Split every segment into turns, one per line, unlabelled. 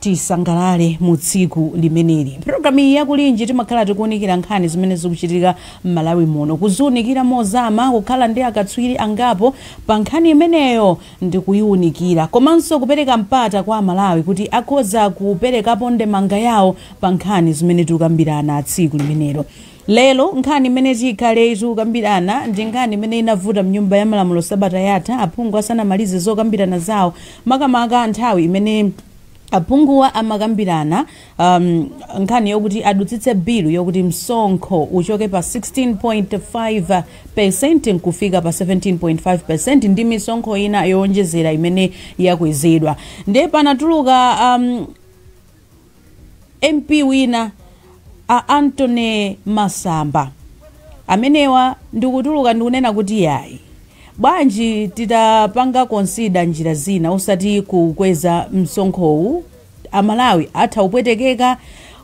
Tisangalale mu tsiku limeneli. Program iyi ya Kulinji timakhala tikuunikira nkhani zimene zikuchitika m'Malawi muno, kuziunikira mozama, kukhala ndi akatswiri angapo pa nkhani imeneyo ndi kuiunikira, komanso kupereka mpata kwa Amalawi kuti akhoza kuperekapo ndemanga yawo pa nkhani zimene tikukambirana tsiku limenelo. Lero nkhani imene tikhale tikukambirana ndi nkhani imene inavuta mnyumba ya malamulo sabata yatha aphungu asanamalize zokambirana zawo makamaka nthawi imene aphunguwa amakambirana um, nkhani yokuti adutsitse bilu yokuti msonkho uchoke pa 16.5% nkufika pa 17.5% ndi misonkho ina yowonjezera imene yakwezedwa ndiye panatuluka um, Mp wina a Anthony Masamba amenewa ndikutuluka ndikunena kuti yayi bwanji titapanga consider njira zina osati kukweza msonkhowu amalawi atha kupwetekeka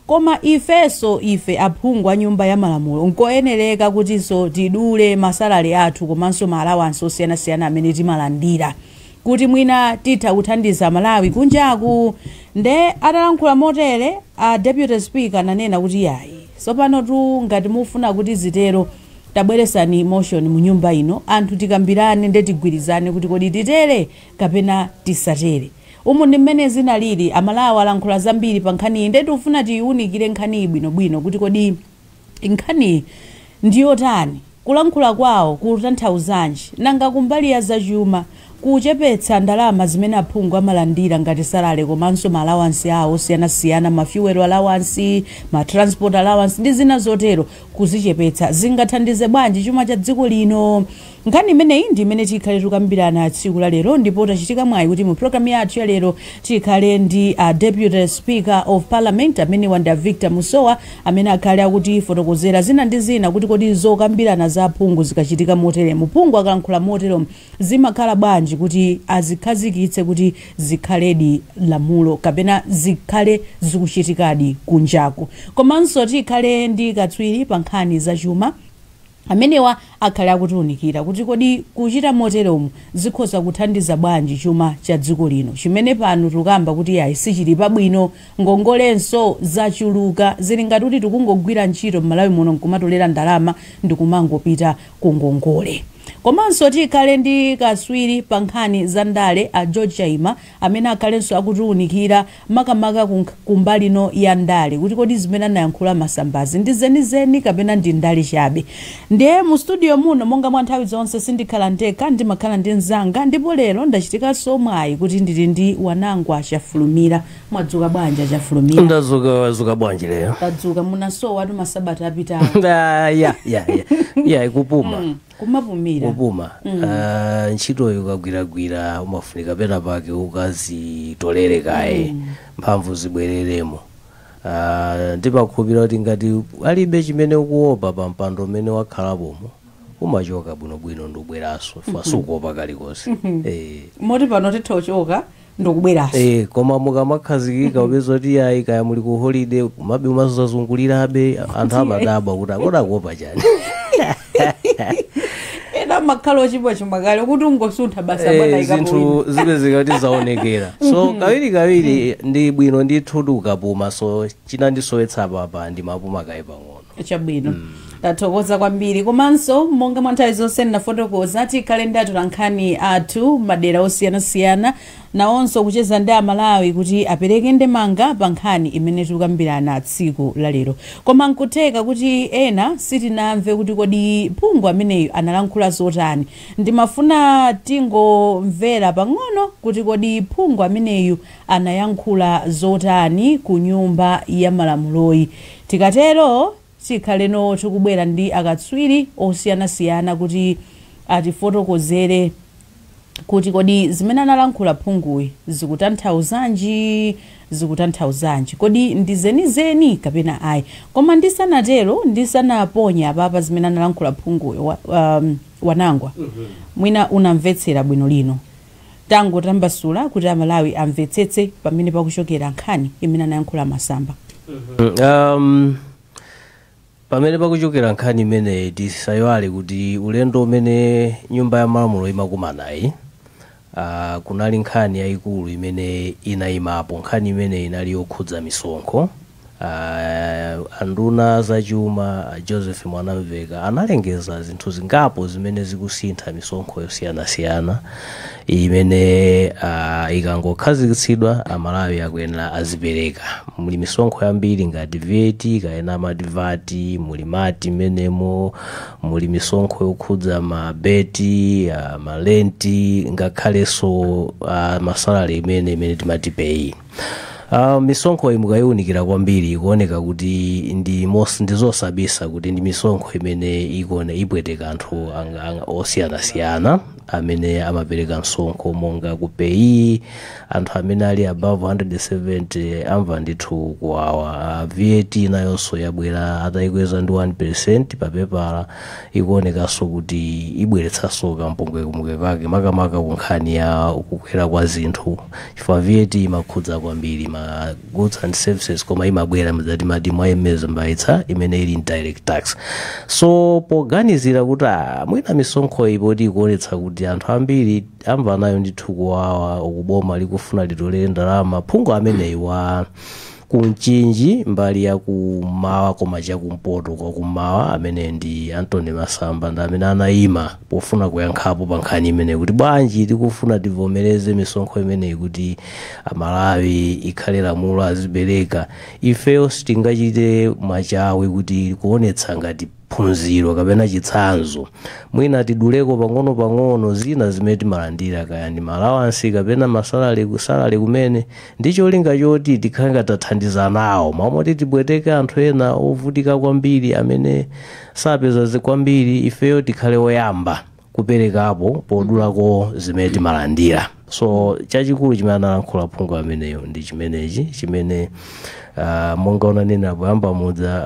koma ifeso ife aphungu a nyumba ya malamulo nkoyenereka kutiso tidule masalale athu komanso ma allowance osiyanasiyana amene timalandira kuti mwina titha kuthandiza Amalawi kunjaku nde atalankhula motere a deputy speaker ananena kuti yayi sopanotu ngati mufuna kuti zitero tabweresani motion mu nyumba ino anthu tikambirane nde tigwirizane kuti kodi titere kapena tisatere umu ndi mmene zinalili amalawi alankhula zambiri pa nkhaniyi nde tikufuna tiyiwunikire nkhaniyi bwinobwino kuti kodi Nkhaniyi ndi yotani? Kulankhula kwawo kukutanthauzanji? Nanga kumbali ya zachuma, kuchepetsa ndalama zimene aphungu amalandira ngati salary komanso ma allowance awo osiyanasiyana, ma fuel allowance, ma transport allowance ndi zina zotero, kuzichepetsa zingathandize bwanji chuma cha dziko lino? Nkhani imeneyi ndi imene tikhale tikukambirana tsiku la lero ndipo tachitika mwayi kuti mu program yathu ya lero tikhale ndi a Deputy Speaker of Parliament amenewa ndi a Victor Musowa amene akhale akutifotokozera zina ndi zina kuti kodi zokambirana za aphungu zikachitika moteremu, phungu akalankhula moteromu zimakhala bwanji kuti azikhazikitse kuti zikhaledi lamulo kapena zikhale zikuchitikadi kunjaku. Komanso tikhale ndi katswiri pa nkhani za chuma. amenewa akhale akutiunikira kuti kodi kuchita moteromu zikhoza kuthandiza bwanji chuma cha dziko lino chimene pano tikukamba kuti iyayi sichili pabwino, ngongolenso zachuluka, zili ngati kuti tikungogwira ntchito m'Malawi muno nkumatolera ndalama ndikumangopita ku ngongole. Komanso tikhale ndi kaswiri pa nkhani za ndale a George Chaima amene akhalenso akutiunikira makamaka ku kumbali ino ya ndale kuti kodi zimene anayankhula a Masambazi ndi zenizeni kapena ndi ndale chabe nde mu studio muno monga mwa nthawi zonse sindikhala ndekha ndimakhala ndi mzanga ndipo lero ndachitikanso mwayi kuti ndili ndi wanangwa chafulumira mwadzuka bwanji chafulumira ndadzuka wadzuka bwanji
lero tadzuka
munasowatu masabata apitawo Ah, ya ya ya
ya kupuma
kumapumira kupuma mm.
uh, ntchitoyo ukagwiragwira umafunika pena pake ukazitolere kaye mm. mphamvu zibwereremo uh, ndimakhulupira kuti ngati alibe chimene ukuopa pa mpando umene wakhalapomo umachoka bwinobwino ndubweranso fukwa sukuopa kalikonse eh. moti
pano titha kuchoka ndikubweranso Eh, koma
mukamakhazikika upeza kuti yayi kaya muli ku holiday kumabe umazazungulirabe anthu amadabwa kuti kodi akuopa chani
ena amakhala oti aba chuma kale kuti ungosuntha basi Eh, bwana ikapowina zinthu zipezeka
kuti zaonekera so kawiri kawiri ndi bwino ndithu tikapume so chinandisowetsa apa
ndimapuma
kaye pang'ono chabwino
tathokoza kwambiri komanso monga mwa nthawi zonse ndafotokoza tikhale ndi atolankhani athu madera osiyanasiyana nawonso kucheza ndi amalawi kuti apereke ndemanga pa nkhani imene tikukambirana tsiku la lero koma nkutheka kuti ena sitinamve kuti kodi phungu ameneyu analankhula zotani ndimafuna tingomvera pang'ono kuti kodi phungu ameneyu anayankhula zotani ku nyumba ya malamuloyi. Tikatero tikhaleno tikubwera ndi akatswiri osiyanasiyana kuti atifotokozere kuti kodi zimene analankhula phunguyi zikutanthauzanji, zikutanthauzanji. Kodi ndi zenizeni kapena ayi. Koma ndisanatero, ndisanaponye apapa zimene analankhula phunguyi, wa, um, Wanangwa, mwina unamvetsera bwino lino. tangotambasula kuti a Malawi amvetsetse pamene pakuchokera nkhani imene anayankhula a Masamba. Um,
pamene pakuchokera nkhani imeneyi tisaiwale kuti ulendo umene nyumba ya malamulo imakumanayi uh, kunali nkhani yayikulu imene inayimapo nkhani imeneyi inali yokhudza misonkho A nduna a za chuma a Joseph Mwanamveka analengeza zinthu zingapo zimene zikusintha misonkho yosiyanasiyana imene uh, ikangokhazikitsidwa amalawi akuyenera azipereka muli misonkho yambiri ngati VAT kapena ma VAT muli mkati m'menemo muli misonkho yokhudza mabeti uh, malenti ngakhalenso uh, masalari imene imene timati PAYE Uh, misonkho iyi mukayiunikira kwambiri ikuoneka kuti ndi mos- ndi zosabisa kuti ndi misonkho imene ikuone ipweteka anthu ang- ang- osiyanasiyana amene amapereka msonkho monga ku PAYE anthu amene ali above 170 amva ndithu kuwawa uh, vat nayonso yabwera atayikweza ndi 1 percent papepala ikuonekanso kuti ibweretsanso kampungwepungwe kake makamaka ku nkhani ya kukwera kwa zinthu chifukwa vat imakhudza kwambiri ma goods and services koma imabwera mzati mati mwayemeza mbayitsa imene ili indirect tax so poganizira kuti ah, mwina misonkho iyi poti ikuonetsa kuti anthu ambiri amva nayo ndithu kuwawa uku boma likufuna litolere ndalama phungu ameneyi wa ku mchinji mbali ya kummawa koma chakumpoto kwa kummawa amene ndi Anthony Masamba ndi amene anayima pofuna kuyankhapo pa nkhani imeneyi kuti bwanji tikufuna tivomereze misonkho imeneyi kuti amalawi ikhale lamulo azipereka ifeyo sitingachite mwachawi kuti kuonetsa ngati phunziro kapena chitsanzo mwina tiduleko pang'ono-pang'ono zina zimene timalandira kaya ndi ma alawansi kapena masalale ku salale kumene ndi cholinga choti tikhale ngati tathandiza nawo mmalo moti tipweteke anthu ena ovutika kwambiri amene sapeza zi- kwambiri ifeyo tikhale oyamba kuperekapo podulako zimene timalandira so chachikulu chimene analankhula phungu ameneyo ndi chimenechi chimene uh, monga unanena poyamba muja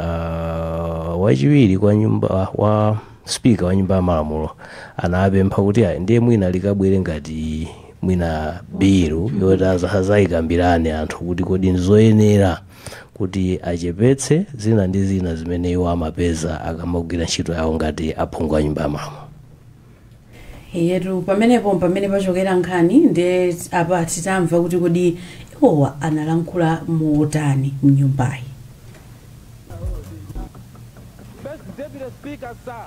uh, wachiwiri kwa nyumba wa spika wa nyumba ya malamulo anapempha kuti ayi ndiye mwina likabwere ngati mwina bilu yoti aza- azayikambirane anthu kuti kodi ndizoyenera kuti achepetse zina ndi zina zimene iwo amapeza akamagwira ntchito yawo ngati aphungu a nyumba ya malamulo
ee etu pamenepo pamene pachokera nkhani nde apa titamve kuti kodi iwowa analankhula motani mnyumbayi
First Deputy Speaker, sir.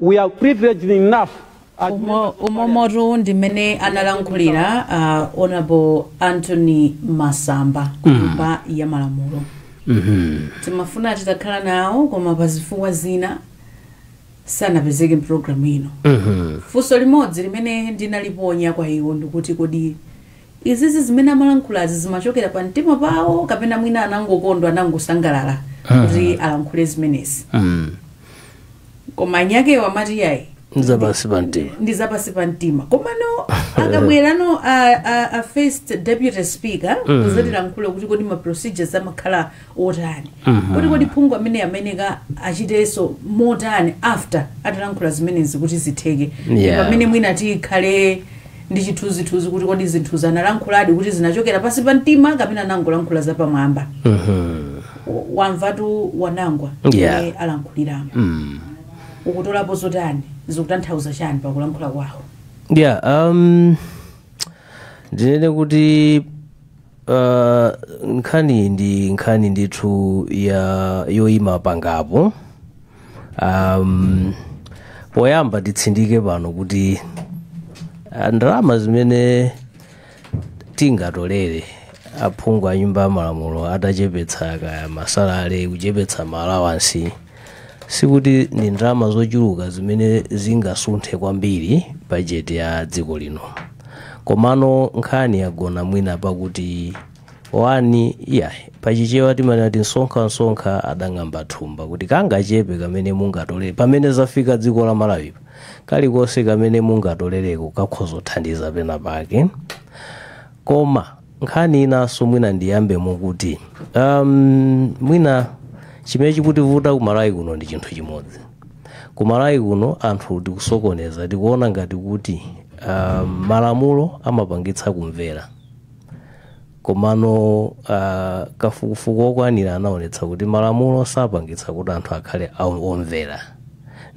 We are privileged enough as Umo- members of
parliament. umomotu ndi mmene analankhulira uh, honorable Anthony Masamba kunyumba ya malamulo timafuna titakhala nawo koma pa zifukwa zina sanapezeke mpulogalamu ino funso limodzi limene ndinaliponya kwa iwo ndikuti kodi izizi zimene amalankhulazi zimachokera pa mtima pawo kapena mwina anangokondwa anangosangalala kuti alankhule zimenezi Mm. koma anyakewo amati yayi nzapansi pa mtima ndi zapansi pa mtima komano akabwerano a, a, a first deputy speaker kuzatilankhulira kuti kodi ma procedures amakhala otani kuti kodi phungu amene amayenera achitenso motani after atalankhula zimenezi kuti zitheke Yeah. pamene mwina tikhale ndi chithunzithunzi kuti kodi zinthu zanalankhuladi kuti zinachokera pansi pa mtima kapena anangolankhula zapamwamba W- wamvatu Wanangwa Yeah. amene alankhuliramo ukutolapo zotani zikutanthauza chani pakulankhula kwawo yeah um
ndinene kuti Uh, nkhani ndi nkhani ndithu ya yoima pangapo um, poyamba titsindike pano kuti ah, ndalama zimene tingatolere aphungu a nyumba ya malamulo atachepetsa kaya masalale kuchepetsa maalawansi Sikuti ndi ndalama zochuluka zimene zingasunthe kwambiri bajeti ya dziko lino. Komano nkhani yagona mwina pakuti wani iyayi pachichewa timanena kuti nsonkhansonkha adang'amba thumba kuti kangachepe kamene mungatolere pamene zafika dziko la Malawi kalikonse kamene mungatolereko kakhoza kuthandiza pena pake koma nkhani inanso mwina ndiyambemo kuti um, mwina chimene chikutivuta ku Malawi kuno ndi chinthu chimodzi ku Malawi kuno anthu tikusokoneza tikuona ngati kuti um, malamulo amapangitsa kumvera komano uh, kafukufuku wokwanira anaonetsa kuti malamulo sapangitsa kuti anthu akhale omvera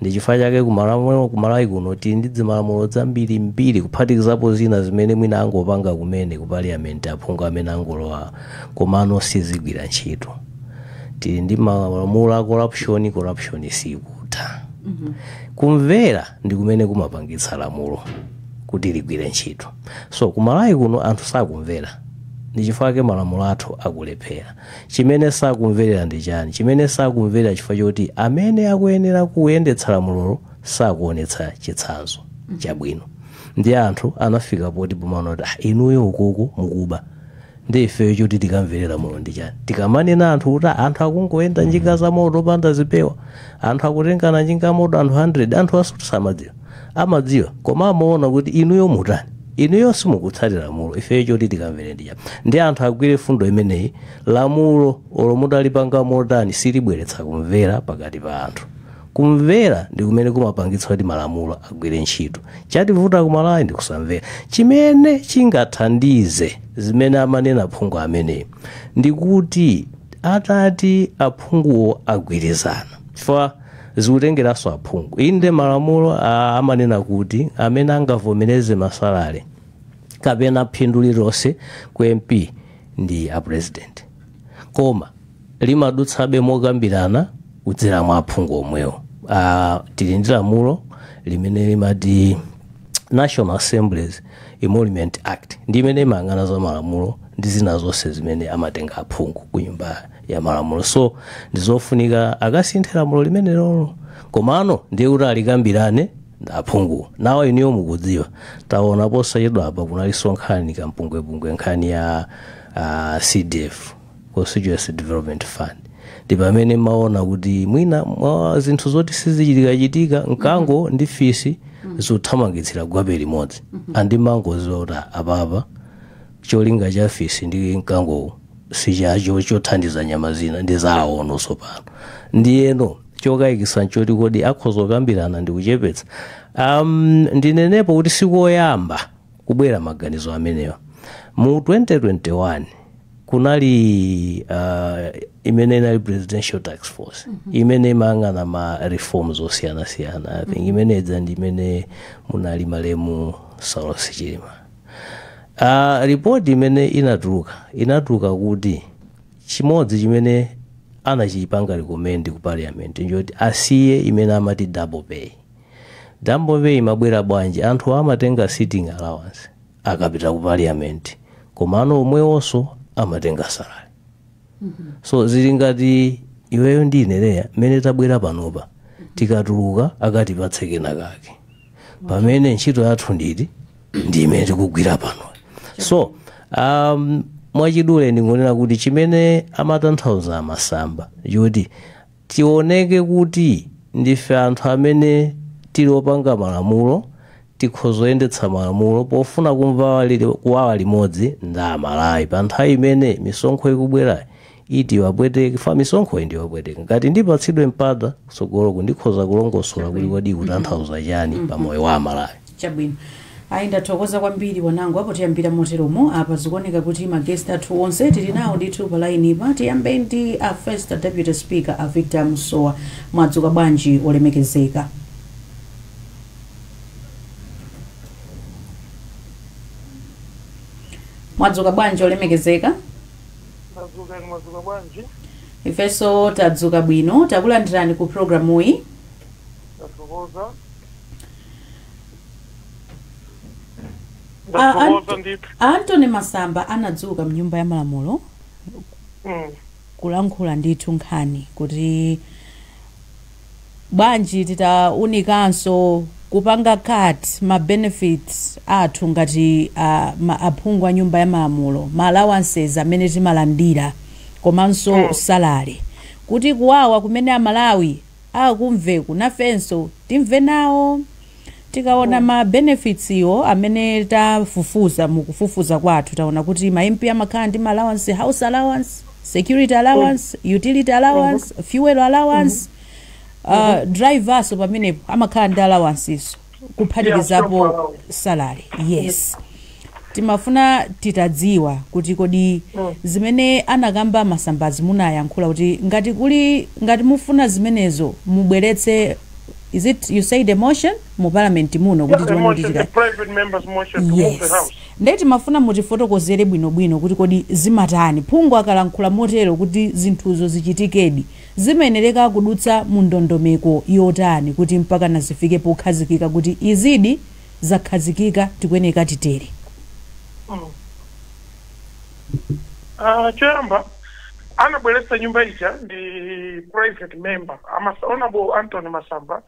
Ndichifukwa chake ku Malawi kuno tili ndi zimalamulo zambirimbiri kuphatikizapo zina zimene mwina angopanga kumene ku Parliament aphungu amene angolowa komano sizigwira ntchito. Tili ndi malamulo a corruption, corruption sikutha. Kumvera ndi kumene kumapangitsa lamulo kuti ligwire ntchito. So ku Malawi kuno anthu sakumvera ndichifukwa chake malamulo athu akulephera. chimene sakumverera ndi chani chimene sakumverera chifukwa choti amene akuyenera kuyendetsa lamulolo sakuonetsa chitsanzo chabwino nde anthu anafika poti pomaona kuti "Ah, inuyo ukuku mukuba nde ifeyo choti tikamverera lamulo ndi chani tikamanena anthu kuti "Ah, anthu akungoyenda njinga za moto opanda zipewa anthu akutengana njinga ya moto anthu 100 anthu aja samadziwa amadziwa koma amaona kuti inuyo mutani inuyo simukutsatira lamulo ifeyo choti tikamvere ndi chani nde anthu agwire fundo imeneyi lamulo olo mutalipanga motani silibweretsa kumvera pakati pa anthu kumvera ndi kumene kumapangitsa kuti malamulo agwire ntchito chativuta ku Malawi ndi kusamvera chimene chingathandize zimene amanena phungu ameneyi ndi kuti atati aphunguwo agwirizana chifukwa zikutengeranso aphungu inde malamulo ah, amanena kuti amene angavomereze masalale kapena phindu lililonse ku mp ndi a president koma limadutsabe mokambirana kudzera mwa aphungu omwewo ah, tili ndi lamulo limene limati national assembly's emoluments act ndi imene imayang'ana za malamulo ndi zina zonse zimene amatenga aphungu ku nyumba ya malamulo so ndizofunika akasinthe lamulo limenelolo komano ndiye kuti alikambirane ndi aphungu nawo inuyo mukudziwa taona posachedwa apa kunalinso nkhani kampungwepungwe nkhani ya uh, cdf constituency development fund ndi pamene timaona kuti mwina mwa zinthu zoti sizichitikachitika mkango ndi fisi zothamangitsira gwape limodzi and umangodziwa kuti apapa cholinga cha fisi ndi mkangowo sichacho chothandiza nyama zina ndi zawo tsopano ndiyeno chokayikisa nchoti kodi akhoza kukambirana ndi kuchepetsa um, ndinenepo kuti sikoyamba kubwera maganizo amenewa mu 2021 kunali uh, imene inali presidential task force imene imayang'ana ma reforms osiyanasiyana i think imene ija ndi imene munali malemu saulos chilima Uh, ripoti imene inatuluka inatuluka kuti chimodzi chimene anachipanga recommend ku parliament nchoti asiye imene amati double pay double pay imabwera bwanji anthu amatenga sitting allowance akapita ku parliament komano omwewonso amatenga salary so zili ngati iweyo ndi ine Leah mmene tabwera panopa tikatuluka akatipatse kena kake pamene ntchito yathu nditi ndi imene tikugwira pano so um, mwachidule ndingonena kuti chimene amatanthauza a masamba choti tioneke kuti ndife anthu amene tili opanga malamulo tikhoza kuyendetsa malamulo pofuna kumva wali- kuwawa limodzi ndi amalawi pa nthawi imene misonkho ikubwerayi isawapweteke chifukwa misonkhoyi ndi yowapweteka ngati ndipatsidwe mpata kutsogoloku ndikhoza kulongosola kuti kodi ikutanthauza chani pa moyo wa amalawi chabwino
ayi ndathokoza kwambiri wanangu apo tiyambira moteromo apa zikuoneka kuti magesti athu onse tili nawo ndithu pa lainipa tiyambe ndi a first deputy speaker a victor musowa mwadzuka bwanji olemekezeka mwadzuka bwanji olemekezeka Ndadzuka
inu mwadzuka bwanji? Ifenso
tadzuka bwino. Takulandirani ku programuyi. Ndathokoza.
A- Ndathokoza
Anto- ndithu. a Anthony Masamba anadzuka mnyumba ya malamulo Mm. kulankhula ndithu nkhani kuti bwanji titaunikanso kupanga cut ma benefits athu ngati aphungu a nyumba ya malamulo, ma allowances amene timalandira komanso Mm. salary kuti kuwawa kumene a Malawi akumveku nafenso timve nawo. Tikaona ma benefits iwo amene tafufuza mu kufufuza kwathu taona kuti ma MP amakhala ndi ma allowance, house allowance, security allowance, utility allowance, fuel allowance, uh, driver's pamenepo amakhala ndi allowances kuphatikizapo salary. Yes. Timafuna titadziwa kuti kodi zimene anakamba a Masambazi munayankhula kuti ngati kuli ngati mufuna zimenezo mubweretse is it you said a motion mu parliament muno kuti tione kuti chikani
yes nde
timafuna mutifotokozere bwino bwino kuti kodi zimatani phungu akalankhula motero kuti zinthuzo zichitikedi zimayenereka kudutsa mu ndondomeko yotani kuti mpakana zifike pokhazikika kuti izidi zakhazikika tikuyenera
titere. Aaa choyamba anabweretsa nkhani ija ndi private member amas honourable Anthony Masamba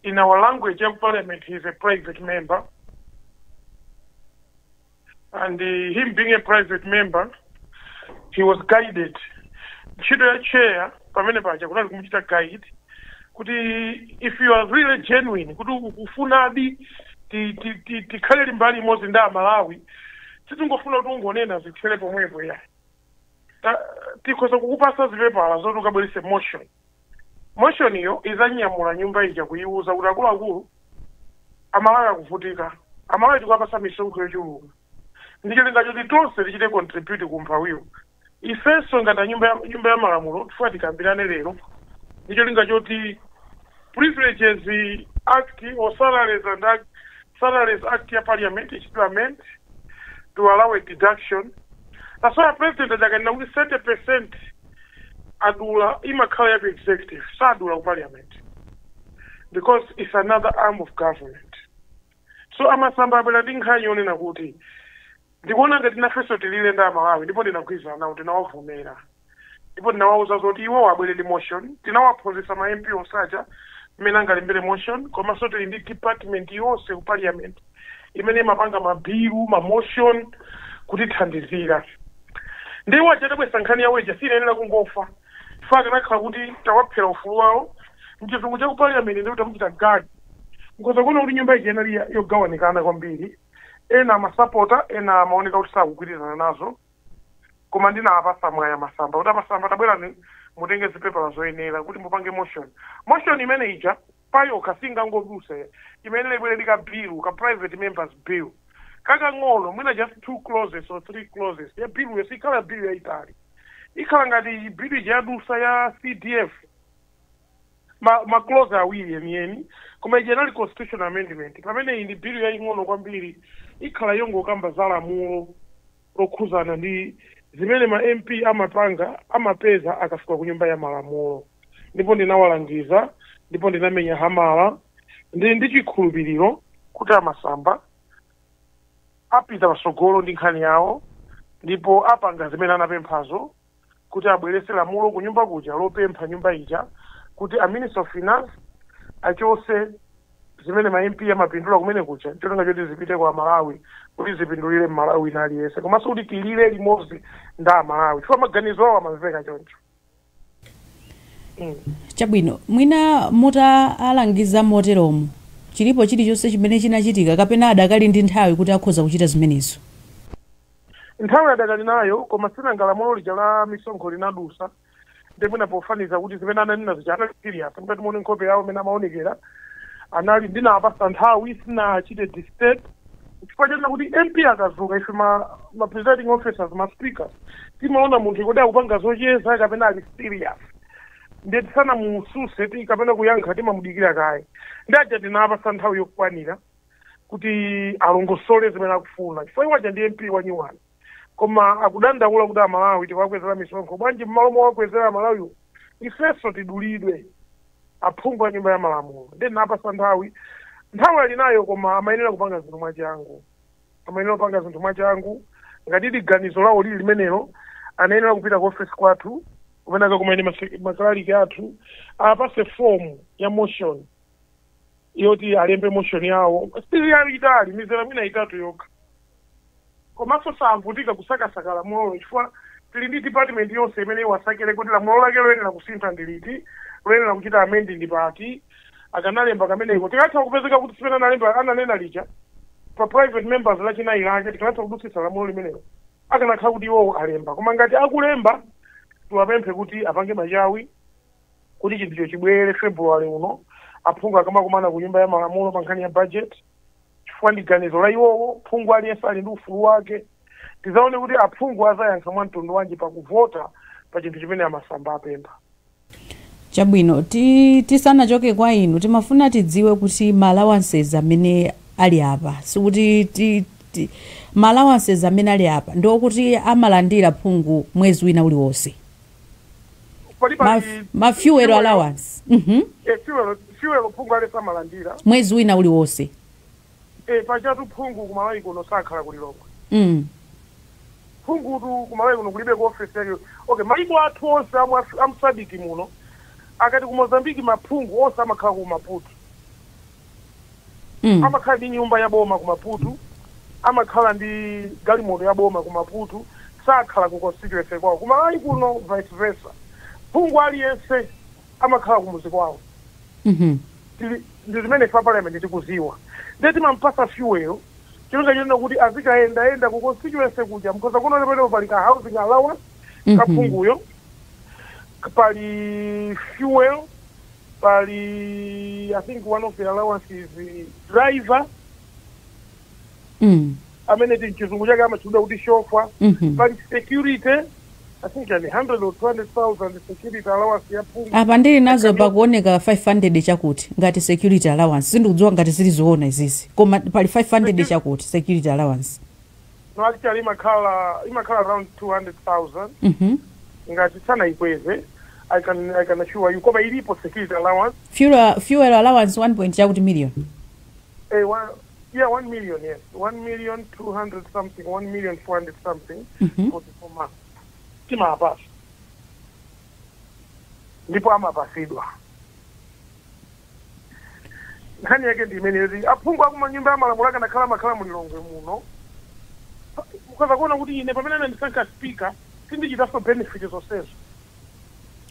in our language ya ku parliament he is a private member and uh, him being a private member he was guided ntchito ya chair pamene paja kunali kumuchita guide kuti if you are really genuine kuti ukufunadi ti- ti- ti- tikhale mbali imodzi ndi amalawi sitingofuna kuti ungonena zithere pomwepo ya Ta- tikhoza kukupatsa zipepala zoti ukabweretse motion Motion iyo idzanyamula nyumba ija kuyiwuza kuti akuluakulu amalawi akuvutika amalawi tikuwapatsa misonkho yochuluka ndicholinga choti tonse tichite contribute ku umphawiwu ifenso ngati anyumba ya- nyumba ya malamulo tifuna tikambirane lero ndicholinga choti privileges act or salaries and act, salaries act ya parliament ichitidwe amend to allow a deduction that's why president aja akanena kuti 30 percent adula imakhala ya ku executive sadula ku parliament because it's another arm of government so a Masamba abwera ndi nkhani yonena kuti ndikuona ngati nafenso tilile ndi amalawi ndipo ndinagwirizana nawo tinawavomera ndipo ndinawauza zoti iwo abwere ndi motion tinawaphunzitsa ma mp onse aja mmene angalembere motion komanso tili ndi department yonse ku parliament imene imapanga mabilu mamotion kutithandizira ndi iwo aja atabweretsa nkhani yawo ija siinayenera kungofa chifukwa akanakhala kuti tawaphera ufulu wawo mchizungu cha ku parliament ndi kuti tamuchita gag nkhoza kuona kuti nyumba ija inali ya- yogawanikana kwambiri ena amasapota ena amaoneka kuti sakugwirizana nazo koma ndinawapasa mwaya masamba kuti amasamba tabwerani mutenge zipepala zoyenera kuti mupange motion motion imene ija payokha singangodutsa imayenera ibwere ndi ka bill ka private members bill kakang'ono mwina just two clauses or three clauses ya billuyo sikhala bill yayitali ikhala ngati bill ija yadutsa ya cdf ma, ma clause awiri yeniyeni koma ija inali constitutional amendment pamene iyi ndi bill yaying'ono kwambiri ikhala yongokamba za lamulo lokhuzana ndi zimene ma MP amapanga amapeza akafika ku nyumba ya malamulo ndipo ndinawalangiza ndipo ndinamenya hamala ndili ndi chikhulupiriro kuti amasamba apita patsogolo ndi nkhani yawo ndipo apanga zimene anapemphazo kuti abweretse lamulo kunyumba kuja lopempha nyumba ija kuti a minister of finance achotse zimene ma MP amapindula kumene kuja ncholinga choti zipite kwa Amalawi kuti zipindulire Mmalawi wina aliyense komanso kuti tilire limodzi ndi Amalawi chifukwa maganizo awo amamveka choncho
mm. chabwino mwina mutaalangiza moteromo chilipo chilichonse chimene chinachitika kapena adakali ndi nthawi kuti akhoza kuchita zimenezo
Nthawi adakali nayo, koma si nanga lamulo lija la misonkho linadutsa ndi mwina pofanizira kuti zimene ananena zija anali serious mukati muone nkhope yawo mmene amaonekera anali ndinawapasa nthawi sinachite disturb chifukwa chonena kuti mp akadzuka ife ma, ma presiding officers ma speakers timaona munthu kodi akupanga zocheza kapena ali serious ndiye tisanamutsutse ti kapena kuyankha timamudikira kaye ndi aja tinawapasa nthawi yokwanira kuti alongosole zimene akufuna chifukwa iwo aja ndi mp wa new one koma akudandaula kuti amalawi tiwakwezera misonkho bwanji mmalo mowakwezera amalawiwo ifenso tidulidwe aphungu a nyumba ya malamulo ndiye ndinawapasa nthawi nthawi ali nayo koma amayenera kupanga zinthu mwachangu amayenera kupanga zinthu mwachangu ngati ndi ganizo lawo lili limenelo anayenera kupita ku ofesi kwathu kumene kuja kumene mase- makalaliki athu awapase fomu ya motion yoti alembe motion yawo sili yayitali mizera mwina itatu yokha komanso savutikanso kusakasaka lamulolo chifukwa tili ndi department yonse imene iwasakire kuti lamulo lake loyenera kusintha ndi liti loyenera kuchita amendi ndi pati akanalemba kameneko tikanatha kupezeka kuti tsiku limene analemba ananena lija pa private members lachinayi lija tikanatha kudutsitsa lamulo limenelo akanakhala kuti iwowo alemba koma ngati akulemba tiwapemphe kuti apange machawi kuti chinthucho chibwere February uno aphungu akamakumana ku nyumba ya malamulo pa nkhani ya budget chifukwa ndi ganizo la iwowo phungu aliyense ali ndi ufulu wake tizaone kuti aphungu azayankha mwa mtundu wanji pakuvota pa chinthu chimene a Masamba apempha
chabwino ti, tisanachoke kwa inu timafuna tidziwe kuti ma allowances amene ali apa sikuti ti, ti, ma allowances amene ali apa ndiokuti amalandira phungu mwezi wina uliwonse pali Ma- pali mafuel allowance Mhm.
eh, fuel fuel phungu aliyense amalandira mwezi wina uliwonse
eh,
pajatu phungu ku Malawi kuno sakhala ku Lilongwe mm. phungutu ku Malawi kuno kulibe ku office yake okay maiko athu onse amu Af- amu SADC muno ngati ku Mozambique maphungu onse amakhala ku Maputo Mm. amakhala ndi nyumba ya boma ku Maputo amakhala ndi galimoto ya boma ku Maputo sakhala ku constituency kwawo ku Malawi kuno vice versa phungu aliyense amakhala ku muzi kwawo Mhm. tili- ndi zimene ife a parliament tikuziwa ndiye timampasa fuel cholinga chonena kuti azikayendayenda ku constituency kuja mukhoza kuona pamenepo pali ka housing allowance Mhm. kaphunguyo pali fuel pali i think one of the allowances is driver Mm. amene m'chizungu chake amatchedwa kuti chauffeur Mhm. pali security i think ya 100 or 200000 security allowance ya phungu apa ndili
nazo pakuoneka 500 chakuti ngati security allowance sindikudziwa ngati zili zoona izizi koma pali 500 chakuti security allowance
Actually imakhala imakhala around 200,000 Mhm. ngati sanayikweze I can, I can assure you koma ilipo security allowance Fuel, fuel
allowance 1 point chakuti million. eh, one,
yeah 1 million yes 1 million 200 something 1 million 400 something Mhm. for the month timawapasa ndipo amapasidwa nkhani yake ndi imeneyo kuti aphungu aku nyumba ya malamulo akanakhala amakhala mu Lilongwe muno mukhoza kuona kuti ine pamene anandisankha speaker sindichitanso benefit zonsezo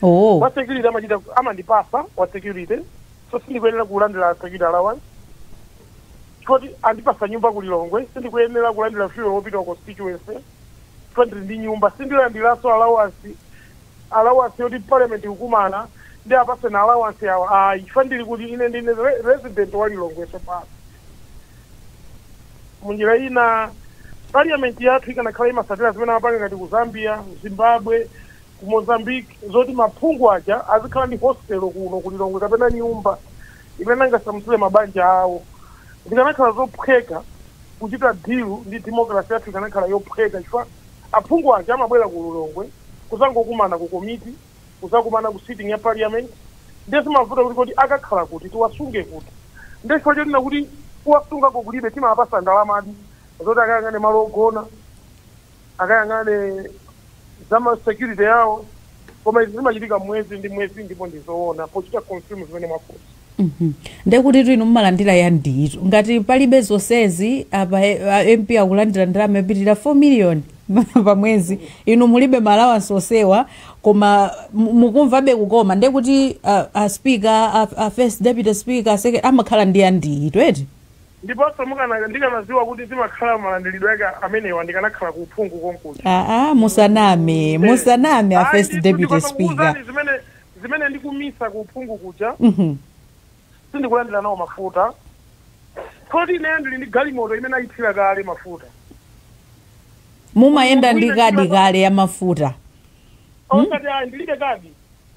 oh wa security
amachita kundipasa wa security so sindikuyenera kulandira security allowance poti andipasa nyumba ku Lilongwe sindikuyenera kulandira fuel wopita ku constituency poti ndili ndi nyumba sindilandiranso allowance allowance yoti parliament ikukumana nde apatsane allowance yawo ayi chifukwa ndili kuti ine ndine re- resident wa Lilongwe tsopano munjira ina parliament yathu ikanakhala imasatira zimene amapanga ngati ku Zambia ku Zimbabwe ku Mozambique zoti maphungu aja azikhala ndi hostel kuno ku Lilongwe kapena nyumba imene angasamutsire mabanja awo zikanakhala zophweka kuchita deal ndi democracy yathu ikanakhala yophweka chifukwa Aphungu aja amabwera ku Lilongwe kuzangokumana ku komiti, kuzakumana ku sitting ya parliament, ndiye zimavuta kuti kodi akakhala kuti, tiwasunge kuti. Ndiye chifukwa chonena kuti kuwasungako kulibe, timawapatsa ndalamadi zoti akayang'ane malo ogona, akayang'ane za ma security awo, koma izi zimachitika mwezi ndi mwezi ndipo ndi zoona pochita confirm zimene mwafunsa. Mhm.
ndekuti tuinu mumalandira ya nditu ngati palibe zonsezi apa eh, a mp akulandira ndalama yopitirira 4 million pa mwezi inu mulibe malawansi onsewa koma mu- mukumvabe kukoma ndekuti ah, a speaker a, a first deputy speaker a second- amakhala ndi ya nditu eti ndiponso
mukana- ndikanadziwa kuti zimakhala malandiridwe ake amenewa ndikanakhala ku uphungu konkuja aa musaname musaname
a first deputy speaker zimene
zimene ndikumisa ku uphungu kuja sindikulandira nawo mafuta poti ineyo ndili ndi galimoto imene ayithira kale mafuta
mumayenda ndi kadi kale ya mafuta
osati ayi ndilibe kadi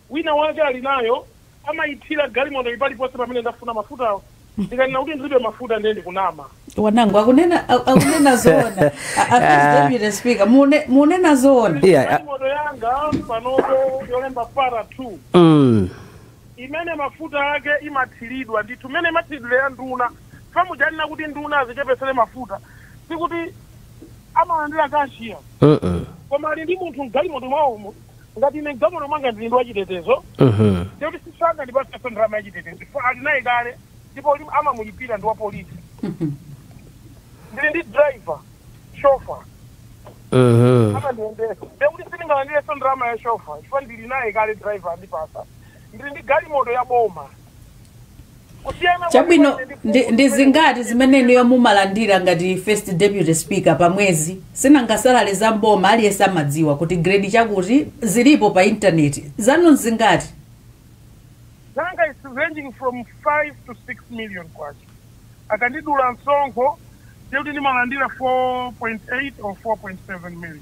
wina wake ali nayo amayithira galimoto ili paliponse pamene ndafuna mafutawo ndikanena kuti ndilibe mafuta ndiye ndikunama wanangu
akunena a- akunena zoona A- a- first deputy speaker mune- munena zoona Yeah, Ndili ah. ndi galimoto yanga
panopo yolemba para 2 Mm. imene mafuta ake imathiridwa ndithu mmene imathiridwira ya nduna chifukwa muja ananena kuti nduna azichepesere mafuta sikuti amalandira kashiya Mm-mm. koma ali ndi munthu mgalimoto mwawomo ngati ine mgalimoto mwanga ndili ndi wachitetezo Mhm. ndekuti sangandipatsenso ndalama yachitetezo chifukwa ali naye kale ndipo lim- amamulipira ndi wa polisi ndili ndi driver shofa Mhm. amandiyendesa ndekuti sindingalandirenso ndalama ya shofa chifukwa ndili naye kale driver andipasa ndili ndi galimoto ya boma kusiyana
kwa chabwino Chikwatu ndi ndi, Phungu ndi kumeneko zingati kukuti- zimene inuyo mumalandira ngati first deputy speaker pa mwezi sinanga salale za mboma aliyense amadziwa kuti grade chakuti zilipo pa intaneti zanu
zingati zanga is ranging from 5 to 6 million kwacha akandidula msonkho ndikuti ndimalandira 4.8 or 4.7 million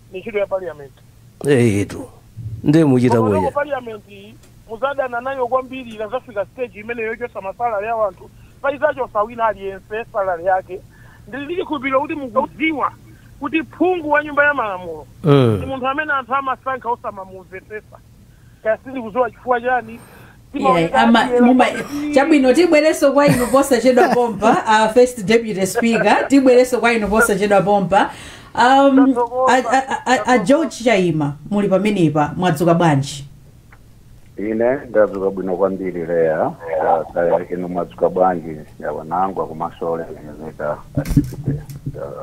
ndi ntchito ya parliament
eyetu ndiye muchita bwenya parliament
iyi muzadana nayo kwambiri ikazafika stage imene yochotsa masalale ya wanthu paizachotsa wina aliyense salale yake ndili ndi chikhulupiriro kuti mukudziwa kuti phungu wa nyumba ya malamulo ndi Mm. munthu amene anthu amasankha osamamumvetsesa kaya sindikudziwa chifukwa chani Iyayi, ama-
muma- chabwino tibwereso kwa inu posachedwa pompa a first deputy speaker tibwereso kwa inu posachedwa pompa um, a, a, a- a, a george chaima muli pamenepa mwadzuka bwanji
ine ndadzuka bwino kwambiri leya Ah, kaya inu mwadzuka bwanji Onango komanso olemekezeka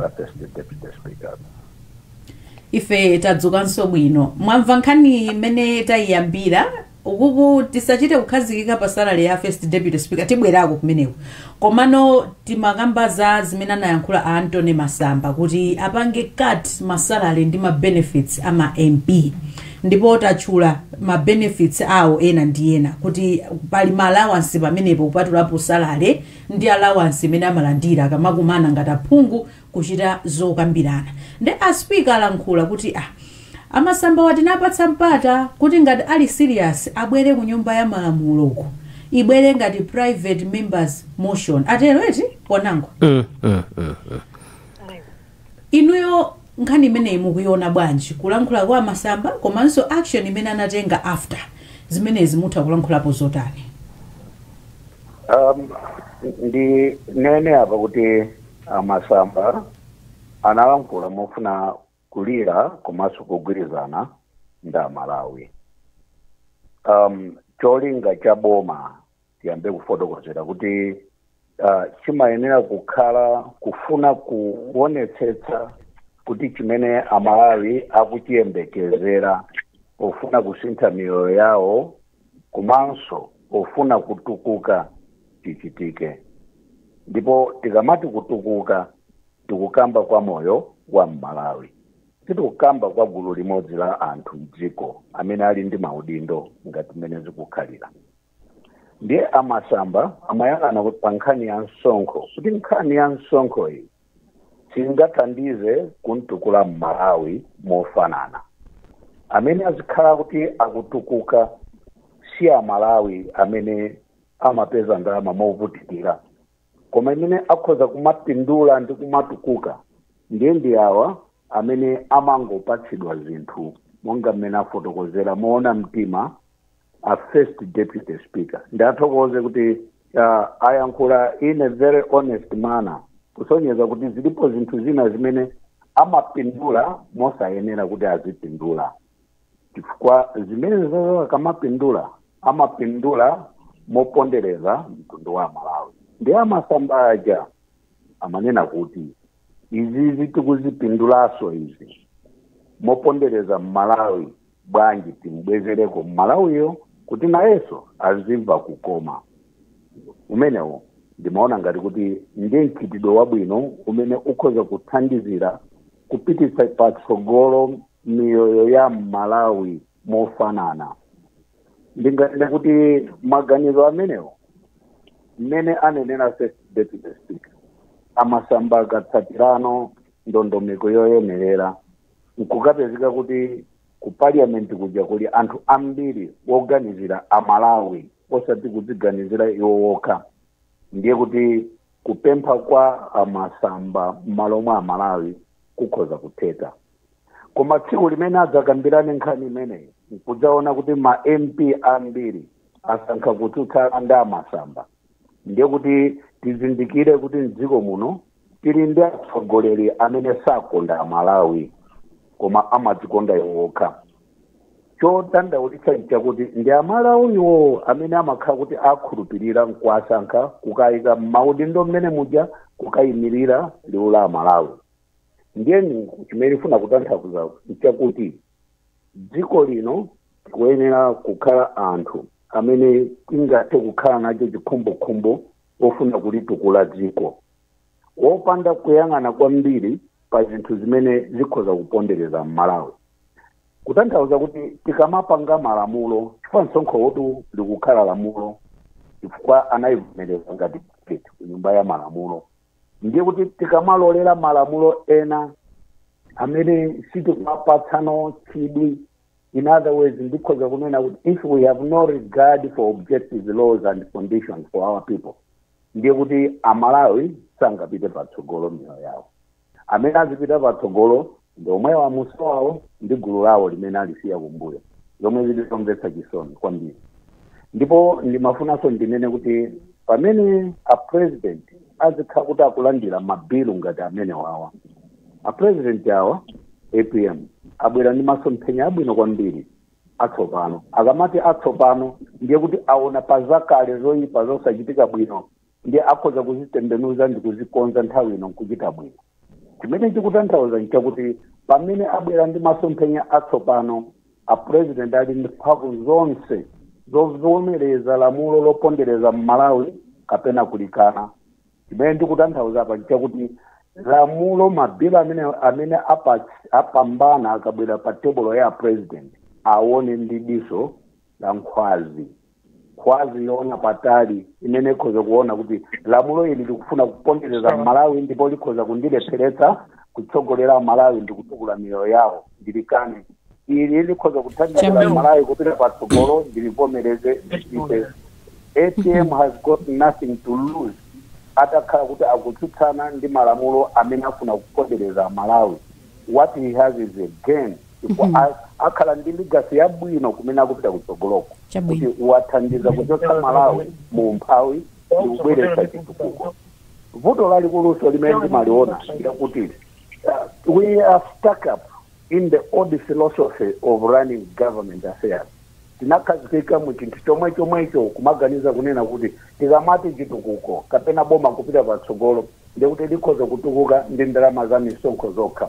a first deputy speaker
ife tadzukanso bwino mwamva nkhani imene tayiyambira Ukuku tisachite kukhazikika pa salary ya first deputy speaker tibwerako kumeneko komano timakamba za zimene anayankhula a Anthony Masamba kuti apange cut ma salary ndi ma benefits a ma MP ndipo tatchula ma benefits awo ena ndi ena kuti pali ma allowance pamenepo kupatulapo salary ndi allowance imene amalandira akamakumana ngati aphungu kuchita zokambirana nde a speaker alankhula kuti ah a Masambawa tinawapatsa mpata kuti ngati ali serious abwere ku nyumba ya malamulo uko ibwere ngati private members motion atero eti Onango Mm, mm, mm, mm. inuyo nkhani imeneyi mukuiona bwanji kulankhula kwa a Masamba komanso action imene anatenga after zimenezi mutha kulankhulapo zotani um,
ndinene apa kuti A Masamba analankhula mofuna kulira komanso kugwirizana ndi Amalawi. Um, cholinga cha boma tiyambe kufotokozera kuti uh, chimayenera kukhala kufuna kuonetsetsa kuti chimene Amalawi akuchiyembekezera pofuna kusintha miyoyo yawo komanso pofuna kutukuka chichitike. Ndipo tikamati kutukuka tikukamba kwa moyo wa m'Malawi. Sitikukamba kwa gulu limodzi la anthu m'dziko amene ali ndi maudindo ngati mmene zikukhalira. Ndiye a Masamba amayang'ana kuti pa nkhani ya msonkho, kuti nkhani ya msonkho iyi Singathandize kumtukula m'Malawi mofanana. Amene azikhala kuti akutukuka si a Malawi amene amapeza ndalama movutikira koma amene akhoza kumapindula ndi kumatukuka ndiye ndi awa amene amangopatsidwa zinthu monga mmene afotokozera moona mtima a first deputy speaker ndiwathokoze kuti uh, ayankhula in a very honest manner kusonyeza kuti zilipo zinthu zina zimene amapindula mosayenera kuti azipindula chifukwa zimenezo akamapindula amapindula mopondereza mtundu wa malawi nde a Masamba aja amanena kuti izizi tikuzipindulaso izi mopondereza mmalawi bwanji timbwezereko mmalawiyo kuti nayenso azimva kukoma umenewo ndimaona ngati kuti ndi mchitidwe wabwino umene ukhoza kuthandizira kupititsa patsogolo miyoyo ya mmalawi mofanana ndinganene kuti maganizo amenewo mmene anenera first deputy speaker a Masamba akatsatireno ndondomeko yoyenerera nkukapezeka kuti ku parliament kuja kuli anthu ambiri woganizira amalawi osati kudziganizira iwo wokha ndiye kuti kupempha kwa a Masamba m'malo mwa amalawi kukhoza kutheka koma tsiku limene adzakambirane nkhani imeneyi nkudzaona kuti ma mp ambiri asankha kutsutsana ndi a Masamba ndiye kuti tizindikire kuti mdziko muno tili ndi atsogoleri amene sakonda amalawi koma amadzikonda iwo okha chodandaulitsa nchakuti ndi amalawiwo amene amakhala kuti akhulupirira nkuwasankha kukayika mmaudindo mmene muja kukayimirira liwu la amalawi ndiye chimene ndifuna kutanthauza nchakuti dziko lino tikuyenera kukhala anthu amene tingathe kukhala nacho chikhumbokhumbo ofuna kulitukula dziko wopanda kuyang'ana kwambiri pa zinthu zimene zikhoza kupondereza mmalawi kutanthauza kuti tikamapanga malamulo chifukwa msonkhowotu likukhala lamulo chifukwa anayivomereza ngati budget ku nyumba ya malamulo ndiye kuti tikamalolera malamulo ena amene sitikuwapatsano chidwi in other words ndikhoza kunena kuti if we have no regard for objective laws and conditions for our people ndiye kuti amalawi sangapite patsogolo miyoyo yawo amene azipita patsogolo ndi omwewo a Mussa awawo ndi gulu lawo limene alisiya kumbuyo zomwe zili zomvetsa chisoni kwambiri ndipo ndimafunanso ndinene kuti pamene a president azikhala kuti akulandira mabilu ngati amenewawa a president awa apm abwera ndi masomphenya abwino kwambiri atsopano akamati atsopano ndiye kuti aona pazakale zoyipa zosachitika bwino ndiye akhoza kuzitembenuza ndi kuzikonza nthawi ino nkuchita bwino chimene ndikutanthauza nchakuti pamene abwera ndi masomphenya atsopano a president ali ndi mphamvu zonse zovomereza lamulo lopondereza mmalawi kapena kulikana chimene ndikutanthauza apa nchakuti lamulo mabhilo amene amene apa- apambana akabwera pa tebulo ya a president aone ndi diso la nkhwazi nkhwazi yoona patali imene ikhoza kuona kuti lamulo ili likufuna kupondereza malawi ndipo likhoza kundilepheretsa kutsogolera malawi ndi kutukula miyoyo yawo ndilikane ili likhoza kuthandizira malawi kupita patsogolo ndilivomereze ndipite atm has got nothing to lose atakhala kuti akutsutsana ndi malamulo amene afuna kupondereza malawi what he has is a gain chifukwa akhala ndi legacy yabwino kumene akupita kutsogoloko kuti wathandiza kuchotsa malawi mu umphawi ndi kubweretsa chitukuko vuto lalikuluso limene timaliona ndikuti uh, we are stuck up in the old philosophy of running government affairs tinakhazikika mu chinthu chomwe chomwecho kumaganiza kunena kuti tikamati chitukuko kapena boma kupita patsogolo ndiye kuti likhoza kutukuka ndi ndalama za misonkho zokha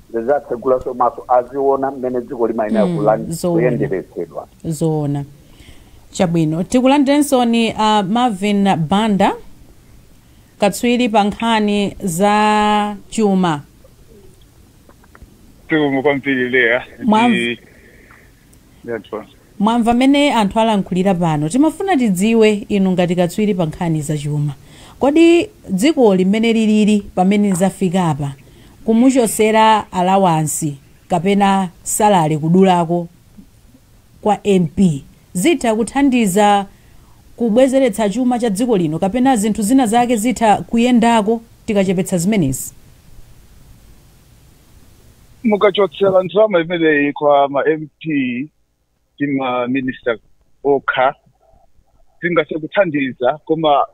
zizatsegulanso maso aziona mmene dziko limayenera kuyendetseredwa zoona
chabwino tikulandireninso uh, marvin banda katswiri pa nkhani za
chuma zikomo kwambiri leya
Mwamva mmene anthu alankhulira pano timafuna tidziwe inu ngati katswiri pa nkhani za chuma kodi dzikoli mmene liliri pamene zafikapa kumuchotsera alawansi kapena salary kudulako kwa MP zitha kuthandiza kubwezeretsa chuma cha dziko lino kapena zinthu zina zake zitha kuyendako tikachepetsa zimenezi?
mukachotsera ndalama imeneyi kwa ma mp ndi ma minister okha zingathe kuthandiza koma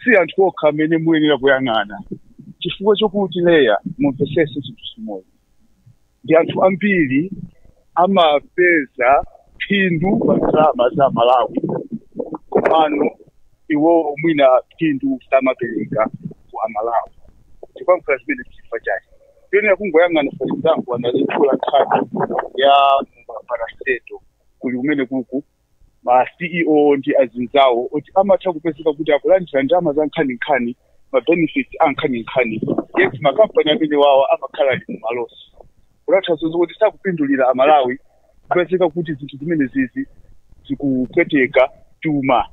si anthu okha amene muyenera kuyang'ana chifukwa chokuti leya mumvetsetse chinthu chimodzi ndi anthu ambiri amapeza phindu pa ndalama za amalawi komano iwowo mwina phindu samapereka kwa amalawi chikwamkhala zimene chifukwa chake sitiyenera kungoyang'ana for example anaitchula nkhani ya ma parastatal kuli kumene kuku ma ceo ndi azinzawo oti amatha kupezeka kuti akulandira ndalama zankhaninkhani ma benefits ankhaninkhani yet makampani amenewawa amakhala ali mumalosi kutanthauza zokuti sakupindulira amalawi kupezeka kuti zinthu zimenezizi zikupweteka chuma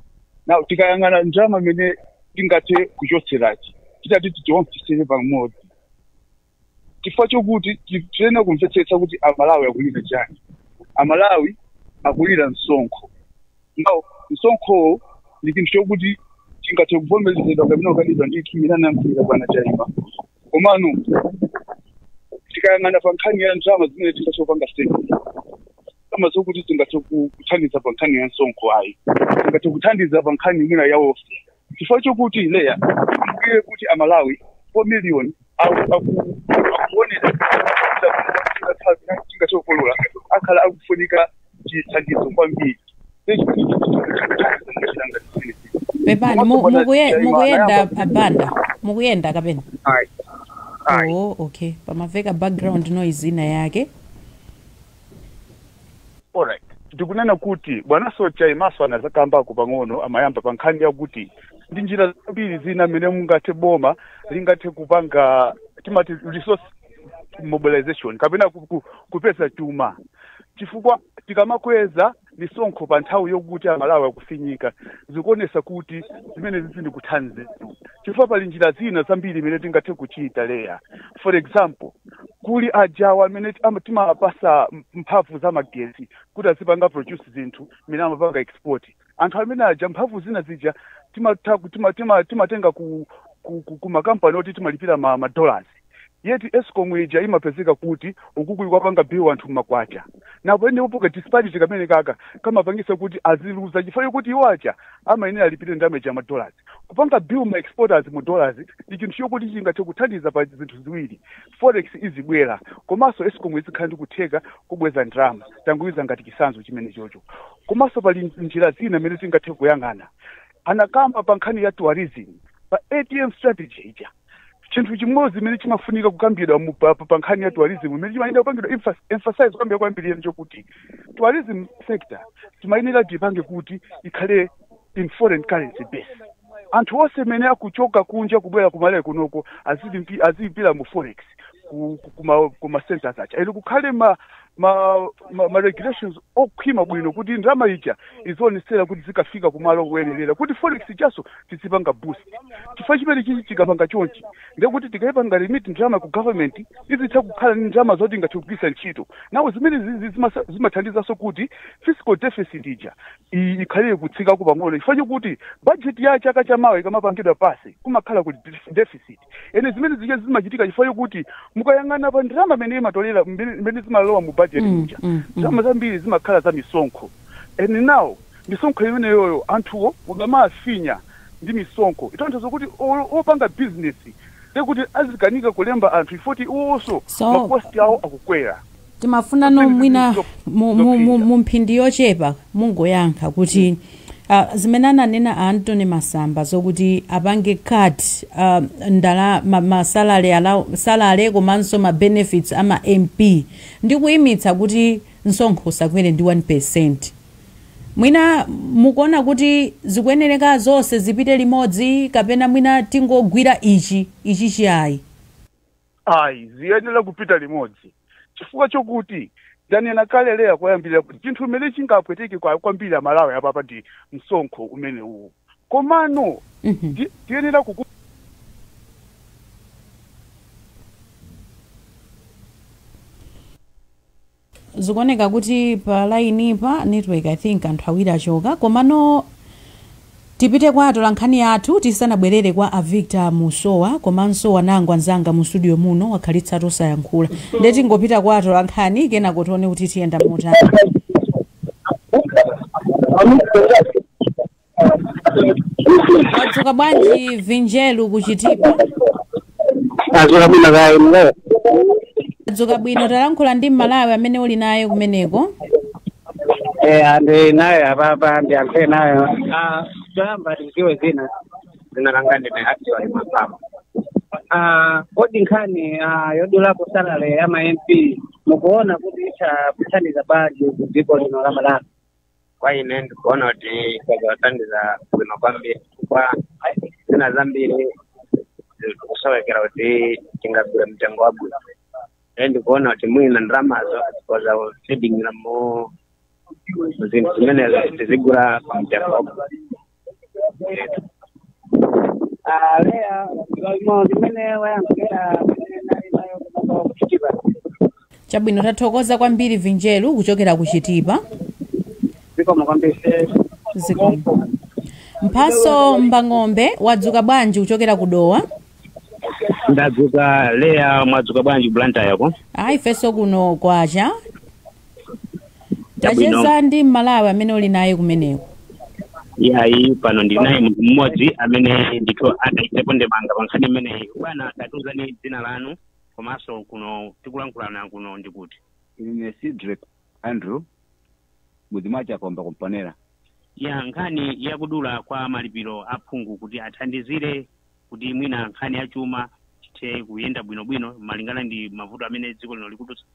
now tikayang'ana ndalama imene tingathe kuchotserayi titati tiionkhetsere pamodzi chifukwa chokuti tiyenera kumvetsetsa kuti amalawi akulira chani amalawi akulira msonkho now msonkhowo ndi chinthu chokuti chingathe kuvomerezedwa kapena kukanidwa ndi chimene anakambira bwana chaima komano tikayang'ana pa nkhani ya ndalama zimene tingathe kupanga state ndalama zokuti tingathe ku- kuthandiza pa nkhani ya msonkho ayi tingathe kuthandiza pa nkhani imene ya welfare chifukwa chokuti leya ndiye kuti amalawi 4 million akuonera chingachokolola akhala akufunika chithandizo kwambiri pepani mu-
mukuye- mukuyenda abanda mukuyenda kapena oh okay pamaveka background noise ina yake
Alright. Ndikunena kuti bwana so Chaimaso anazakambako pang'ono amayamba pa nkhani yakuti ndi njira zambiri zina mmene mungathe boma lingathe kupanga timati resource mobilization kapena ku- ku- kupeza chuma chifukwa tikamakweza misonkho pa nthawi yokuti amalawi akufinyika zikuonesa kuti zimene zizi ndikuthanize chifukwa pali njira zina zambiri mmene tingathe kuchita leya for example kuli ajawa amene ama- timawapasa m- mphamvu za magesi kuti azipanga produce zinthu imene amapanga export anthu amene aja mphamvu zina zija timatha ku- tima- tima- timatenga ku ku- ku- ku makampani oti timalipira ma, ma dollars yet escom ija imapezeka kuti ukuku ikuwapanga bill anthu m'makwacha now pamenepo ka disparity kamene kaka kamapangisa kuti aziluza chifukwa yokuti iwo aja amayenera alipire ndalama ija madollars kupanga bill ma exporters mu dollars ndi chinthu chokuti chingathe kuthandiza pa zinthu ziwiri forex izibwera komanso escom izikhala ndi kutheka kubweza ndalama tangoika ngati chisanzo chimene chocho komanso pali njira zina mmene tingathe kuyang'ana anakamba pa nkhani ya tourism pa atm strategy ija chinthu chimodzi chimene chimafunika kukambidwa mu- pa pa- pa nkhani ya tourism imene chimayenera kupangidwa emphas- emphasize kukambira kwambiri yeni chokuti tourism sector timayenera tipange kuti ikhale in foreign currency base anthu onse amene akuchoka kunja kubwera kumalawi kunoko azilipira mu forex ku- ku- kuma- kuma centers aja ene kukhale ma ma, ma, ma regulations okhwima bwino kuti ndalama ija izionetsetsa kuti izikafika kumalo koyenerera kuti forex ijaso tizipanga boost chifukwa chimene chichi tikapanga chonchi ndekuti tikayipanga remit ndalama ku government izitha kukhala ndi ndalama zoti ingathe kugwiritsa ntchito now zimene zizi zimasa- zimathandizanso kuti fiscal deficit ija i- ikhale yotsikako pang'ono chifukwa chokuti budget ya chaka chamawa ikamapangidwa pasi kumakhala kuli deficit and zimene zija zimachitika chifukwa chokuti mukayang'ana pa ndalama imene amatolera zimene zimalowa mu budget Mm, muja mm, mm. ndalama zambiri zimakhala za misonkho and now misonkho imeneyoyo anthuwo mukamawafinya ndi misonkho zitanthauza kuti o- opanga bizinesi ndekuti azikanika kulemba anthu poti iwonso So- makosti awo akukwera timafunano
mwina mu- mu- mu- mu mphindi yochepa mungoyankha kuti ah, zimene ananena a antony masamba zokuti apange cut ah, ndala ma- ma salary allow- salary komanso ma benefits ama mp ndi kuyimitsa kuti msonkho usakwere ndi 1 percent mwina mukuona kuti zikuyenereka zonse zipite limodzi kapena mwina tingogwira ichi ichi chiyayi
ayi ziyenera kupita limodzi chifukwa chokuti ndanena kale Leah koyambirira kuti chinthu chimene chingapweteke kwa- kwambiri amalawi apapa ndi msonkho umene uwu komano Mhm. ti- tiyenera kuku
zikuoneka kuti pa line pa network i think anthu awiri achoka komano tipite kwa atolankhani athu tisanabwerere kwa avictor musowa komanso anangwa anzanga mu studio muno akhalitsa osayankhula nde tingopita kwa atolankhani kenako tione kuti tiyenda motani wadzuka bwanji vinjelu kuchitipa tadzuka bwino kaya Leah wadzuka bwino talankhula ndi mmalawi amene uli naye kumeneko
eh amene ndili nawo apapa ndiyankhule nawo ah choyamba tidziwe dzina dzina langa ndine actually mapama ah kodi nkhani ah yodulapo salary ya ma MP mukuona kuti itha kuthandiza bwanji ku dziko lino la Malawi kwa
ine ndikuona kuti kudzatithandiza bwino kwambiri chifukwa zina zambiri zikusowekera kuti tingagule mtengo wabwino e ndikuona kuti mwina ndalamazo zikhoza kuthandizira mu zinthu zimenezo tizigula kwa mtengo wabwino
a Leah ndi mmene ayankhira amene ndinali nawo kunoko kuchitipa.
chabwino tathokoza kwambiri vinjelu kuchokera ku
chitipa Zikomo kwambiri.
zikomo mphatso mbang'ombe wadzuka bwanji kuchokera ku dowa
ndadzuka Leah mwadzuka bwanji Blantyreko ayi ifenso
kuno kwacha Chabwino. tacheza ndi mmalawi amene uli naye kumeneko yayi
pano ndili naye munthu mmodzi amene ndithu ataikepo ndemanga pa nkhani imeneyi bwana tatiwuzani dzina lanu komanso kuno tikulankhulana kuno ndi kuti ine
cedric andrew mudzi wa chakomba ku Mponela ya nkhani
yakudula kwa malipiro aphungu kuti athandizire kuti mwina nkhani ya chuma
chithe kuyenda bwinobwino malingana ndi mavuto amene dziko lino likudutsa.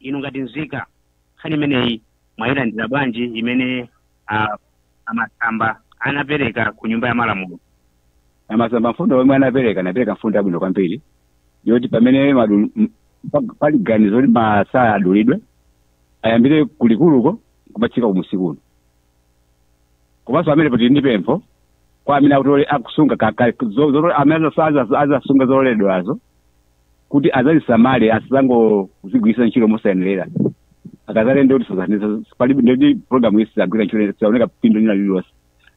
inu ngati nzika nkhani imeneyi mwayilandira bwanji imene ah, amasamba anapereka ku nyumba ya malamulo
amasamba mfundo yomwe anapereka anapereka mfundo yabwino kwambiri yoti pamene madu- m- pa- pali ganizo kuti masalale adulidwe ayambire kulikuluko kumatsika kumunsi kuno komanso pamenepo tili ndi pempho kwa amene akutole akusunga ka- ka- zo- zo- amene azafa- azasunga zololedwazo kuti azazisamale asazangozigwiritsa ntchito mosayenerera akazalendi kuti sazaniza palibe ndi programu isi zagwira ntchito saoneka phindu lina lililonse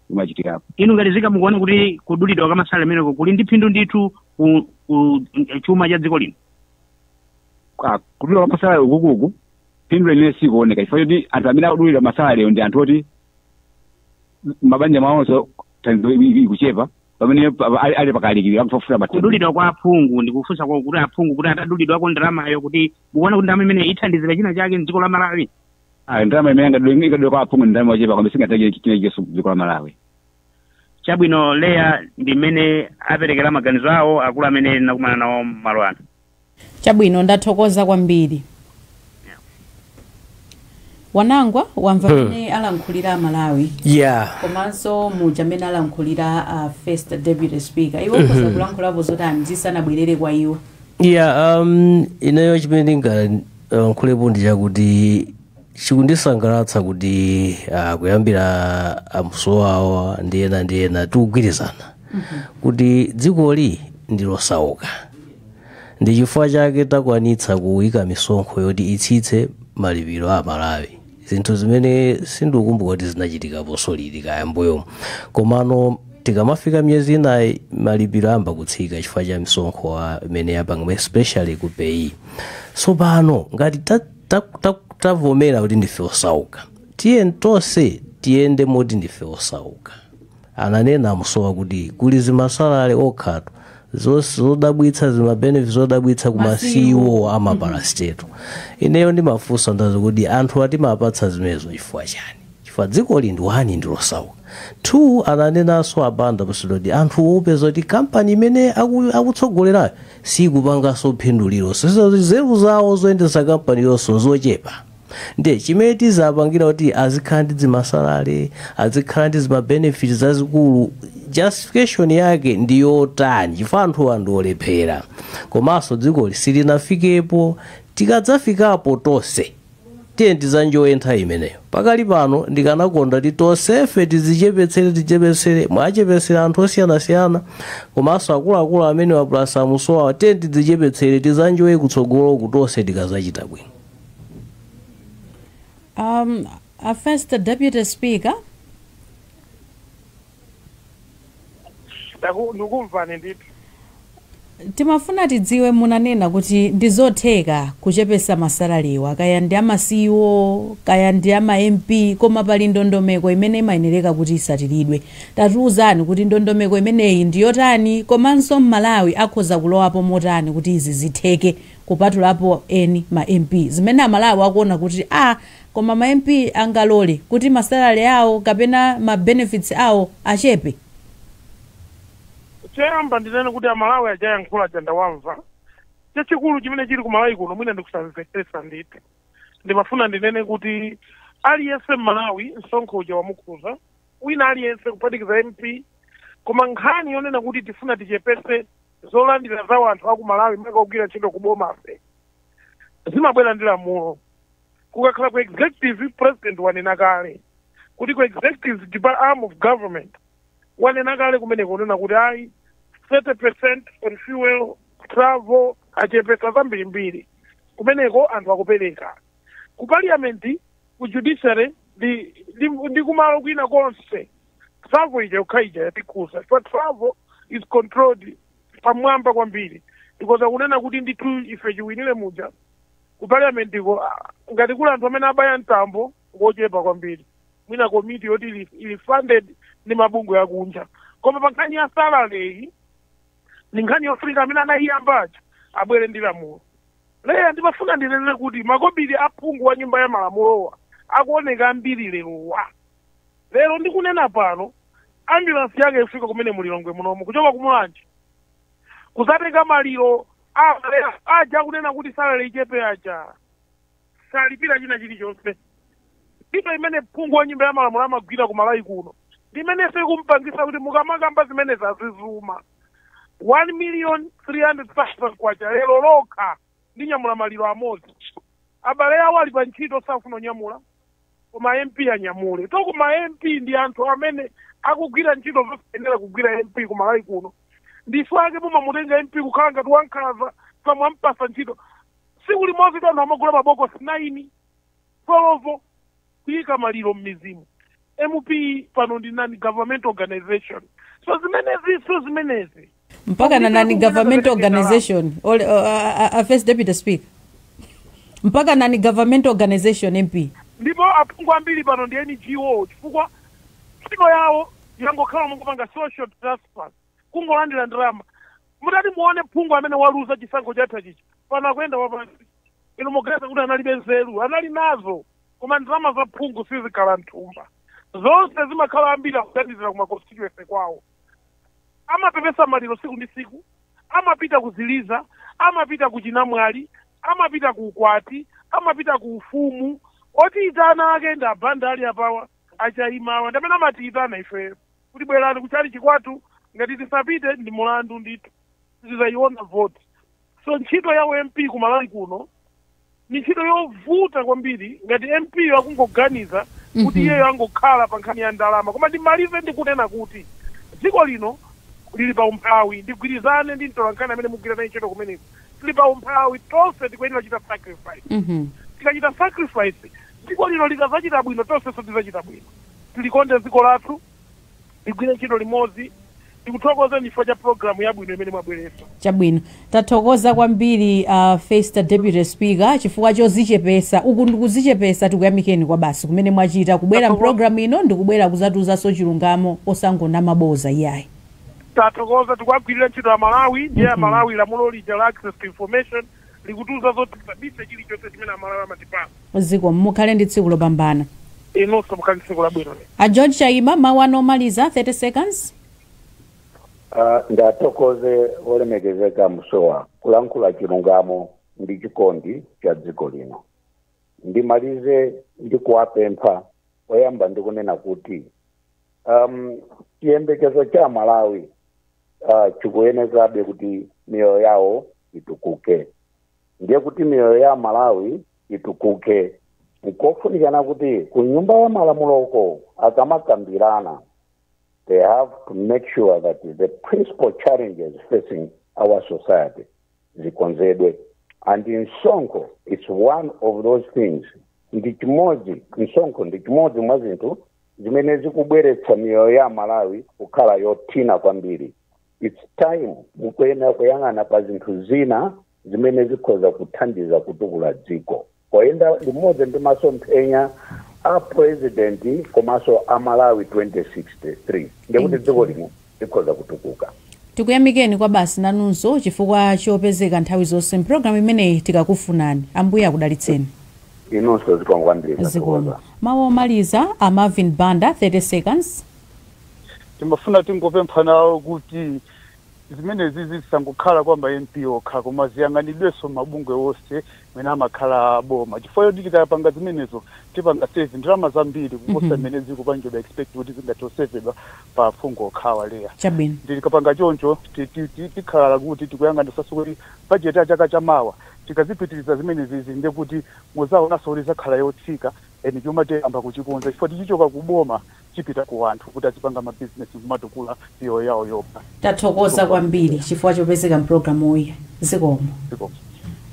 limachitikapo inu ngati nzika
mukuona kuti kudulidwa kwa masalale kumeneko kuli ndi phindu ndithu ku, ku chuma cha dziko lino Ah, kudula
kwa masalale ukukuku phindu lenileni sikuoneka chifukwa choti anthu amene akudulidwa masalalewo ndi anthu oti mabanja mwawonso thandizo i- i- ikuchepa pamene pa- pa- ali- ali pakalikiro akufuna mathandizo kudulidwa kwa aphungu
ndikufunsa kwa kuti aphungu kuti atadulidwako ndalamayo kuti mukuona kuti ndalama imeneyi ithandizira china chake mdziko la malawi Ah, ndalama
imene angadule ikadule kwa aphungu ndi ndalama yochepa kwambiri singatenge china chake dziko la malawi chabwino
leya ndi mmene aperekera maganizo awo akulu amene nakumana nawo malo ano
Chabwino, ndathokoza kwambiri. Wanangwa wamva Hmm. mmene alankhulira a Malawi yeah komanso muja mmene alankhulira uh, first deputy speaker inu mukhoza Mhm. kulankhulapo zotani tisanabwerere kwa iwo yeah um, ineyo
chimene ndingalankhulapo ndi chakuti chikundisangalatsa kuti uh, kuyambira a Msowoya ndi ena ndi ena tikugwirizana kuti dzikoli ndi losauka ndi chifukwa chake takwanitsa kuyika misonkho yoti itsitse malipiro a amalawi zinthu zimene sindikukumbuka kuti zinachitikapo sorry kaya mbuyomu komano tikamafika miyezi inayi malipiro ayamba kutsika chifukwa cha misonkho imene yapangidwa especially ku paye tsopano ngati ta- ta- ta- tavomera kuti ndife osauka tiyeni tonse tiyende moti ndife osauka ananena a Msowoya kuti kuli zimasalale okhatu zos- zodabwitsa zimabenefits zodabwitsa kuma ceo ama parastatal ineyo ndimafunsa ndazi kuti anthuwa timawapatsa zimenezo chifukwa chani chifukwa dzikoli ndi one ndilosauka two ananenanso abanda pasidodi anthu upeza kuti kampani imene aku- akutsogolerayo siikupanganso phindu lililonse so nzeru zawo zoyendetsera kampaniyonso zochepa nde chimene tizapangira kuti azikhala ndi dzimasalale azikhala ndi zimabenefit zazikulu justification yake ndi yotani chifukwa anthuwa ndi olephera komanso dzikoli silinafikepo tikadzafikapo tonse Tiyeni tidzanjoye nthawi imeneyo. Pakali pano, ndikanakonda kuti tonsefe tidzichepetsere tichepetsere, mwachepesera anthu osiyanasiyana, komanso akuluakulu amenewa plus a Mussowawa, tiyeni tidzichepetsere tidzanjoye kutsogoloku tonse tikadzachita bwino. Um,
a first deputy speaker.
Ndaku- Ndikukumvani
ndithu. Timafuna tidziwe munanena kuti ndizotheka kuchepesa ma salarywa kaya ndi ama CEO kaya ndi ama MP koma pali ndondomeko imene imayenereka kuti itsatiridwe. Tatiuzani kuti ndondomeko imeneyi ndi yotani komanso m'Malawi akhoza kulowapo motani kuti izi zitheke kupatulapo eni ma MP. Zimene aMalawi akuona kuti a Koma ma MP angalole kuti ma salary awo kapena ma benefits awo
achepe? Choyamba ndinene kuti a Malawi aja ayankhula aja ndawamva. Chachikulu chimene chili ku Malawi kuno mwina ndikusamvetsetsa ndithu. Ndimafuna ndinene kuti aliyense m'Malawi msonkho uja wamukhudza, wina aliyense kuphatikiza MP. Koma nkhani yonena kuti tifuna tichepetse zolandira za wanthu a ku Malawi makamaka ogwira ntchito ku bomafe, zimabwera ndi lamulo. kukakhala ku executive president wanena kale kuti ku executive depa- arm of government wanena kale kumeneko kunena kuti ayi 30 percent on fuel travel achepesa zambirimbiri kumeneko anthu akupereka ku parliament ku judiciary ndi, ndi, ndi kumalo kwina konse travel ija yokha ija yatikhudza chifukwa travel is controlled pamwamba kwambiri because akunena kuti ndithu ife chiwinire muja Ku parliamentiko ngati kuli anthu amene abaya mtambo ngochepa kwambiri, mwina komiti yoti ili, ili funded ndi mabungwe akunja. Koma pa nkhani ya salary iyi ndi nkhani yofunika amene anayiyamba aja abwere ndi lamulo. Leya ndimafuna ndinene kuti makobiri a phungu wa nyumba ya malamulowa akuoneka ambiri lerowa. Lero ndikunena pano ambulance yake ifika kumene mu Lilongwe munomu kuchoka ku Mulanje kudzatenga maliro abale aja akunena kuti salary ichepe aja osalipira china chilichonse ntchito imene phungu wa nyumba ya malamulo amagwira ku malawi kuno ndimenenso ikumpangisa kuti mukamakamba zimene zazizuma 1 million 300,000 kwacha lero lokha ndinyamula maliro amodzi abale awo ali pa ntchito safuna kunyamula koma mp anyamule to koma mp ndi anthu amene akugwira ntchito zosayenera kugwira mp kumalawi kuno ndife ake mumamutenga mp kukhala ngati wankhanza pomwe ampatsa ntchito tsiku limodzi anthu amagula mabokosi 9 solovo kuyika maliro m'mizimu mp pano ndi nani government organization so zimenezi so zimenezi mpaka
na nani government organization Ole- uh, uh, uh, first deputy speaker mpaka nani government organization mp ndipo aphungu
ambiri pano ndi ngo chifukwa ntchito yawo yangokhala mongopanga social transfer kungolandira ndalama mutati muone phungu amene waluza chisankho chatha chichi pano akuyenda wapansi inu muganiza kuti analibe nzeru anali nazo koma ndalama za phungu sizikhala nthumba zonse zimakhala ambiri akuthandizira kuma constituency kwawo amapepesa maliro siku ndi siku amapita kuziliza amapita kuchinamwali amapita ku ukwati amapita ku ufumu otiyitana ake ndi a Banda ali apawa a Chaimawa ndi amene amatiyitana ife kuti bwerani kuchali chikwatu ngati tisapite ndi mulandu ndithu tizayiona voti so ntchito ya u MP ku malawi kuno ndi ntchito yovuta kwambiri ngati mp yo akungoganiza kuti iyeyo angokhala pa nkhani ya ndalama koma ndimalize ndikunena kuti dziko lino lili pa umphawi ndigwirizane ndi mtolankhani amene mugwira naye ntchito kumeneko tili pa umphawi tonse tikuyenera kuchita sacrifice Mhm. tikachita sacrifice dziko lino likazachita bwino tonsenso tizachita bwino tilikonde dziko lathu Tigwire ntchito limodzi. Tikuthokozani chifukwa cha program yabwino imene mwabweretsa.
Chabwino. Tathokoza kwambiri a First Deputy Speaker chifukwa chozichepesa. Uku ndikuzichepesa tikuyamikeni kwabasi kumene mwachita kubwera Tathokoza. mprogram ino ndikubwera kuzatiuzanso chilungamo osangonama boza iyayi. Tathokoza.
Tikuwagwirira ntchito a Malawi ndiye a Malawi lamulo lija la access to information likutiuza zoti tisabise chilichonse chimene amalawi amatipasa zikomo
mukhale ndi tsiku lopambana inunso mukhale
ndi tsiku labwino a george chaima
mawu anu omaliza 30 seconds Ah,
ndiwathokoze olemekezeka Musowa kulankhula chilungamo ndi chikondi cha dziko lino ndimalize ndi kuwapempha oyamba ndikunena kuti um, chiyembekezo cha amalawi ah, chikuyenezabe kuti miyoyo yawo itukuke ndiye kuti miyoyo ya amalawi itukuke nkofunikana kuti ku nyumba ya malamuloko akamakambirana they have to make sure that the principal challenges facing our society zikonzedwe and msonkho is one of those things ndi chimodzi msonkho ndi chimodzi mwa zinthu zimene zikubweretsa miyoyo ya amalawi kukhala yothina kwambiri its time mukuyenera kuyang'ana pa zinthu zina zimene zikhoza kuthandiza kutukula dziko poyenda limodzi ndi masomphenya a president komanso a malawi 2063 ndikuti dziko lino tikhoza kutukuka.
Tikuyamikeni kwabasi nanunso chifukwa chopezeka nthawi zonse m'programu imeneyi tikakufunani. Ambuye akudalitseni. Inunso
zikomo kwambiri Zikomo. tathokoza. Mawu
omaliza a Marvin Banda, 30
seconds. Timafuna tingopempha nawo kuti zimenezizi zisangokhala kwa ma MP okha koma ziyang'anidwenso m'mabungwe onse mene amakhala a boma chifukwa choti tikapanga zimenezo tipanga save ndalama zambiri kuposa zimene zikupangidwa expect kuti zingathe kusevedwa pa aphungu okhawa Leah Chabwino. nde tikapanga
choncho
ti- ti- ti- tikhala kuti tikuyang'anisanso kuti budget ya chaka cha mawa tikazipitiriza zimenezizi ndekuti muzaonanso kuti izakhala yotsika and chuma tiyamba kuchikonza chifukwa tichichoka ku boma chipita ku anthu kuti adzipanga ma business nkumatukula miyoyo yawo yokha. Tathokoza kwambiri
chifukwa chopezeka mpulogalamuyi zikomo. Zikomo.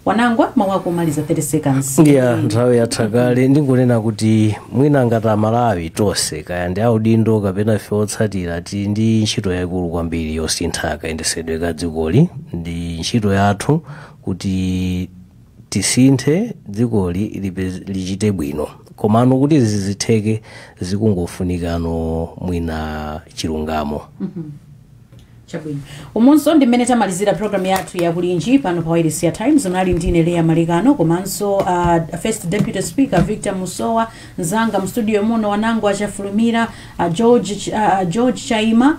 Wanangwa mau ako omaliza 30 seconds. ya nthawi yatha
kale ndingonena kuti mwina ngati amalawi tonse kaya ndi audindo kapena ife otsatira tili ndi ntchito yayikulu kwambiri yosintha kayendesedwe ka dzikoli ndi ntchito yathu kuti Tisinthe dzikoli lipez, lichite bwino. Komano kuti zizitheke zikungofunikano mwina chilungamo.
Chabwino. Umunso ndi mmene tamalizira programu yathu ya kulinji pano pa Wailesi ya Times. Munali ndi ine Leah Malekano komanso uh, First Deputy Speaker Victor Musowa, mzanga mstudio muno Wanangwa Chafulumira uh, George, Ch- uh, George Chaima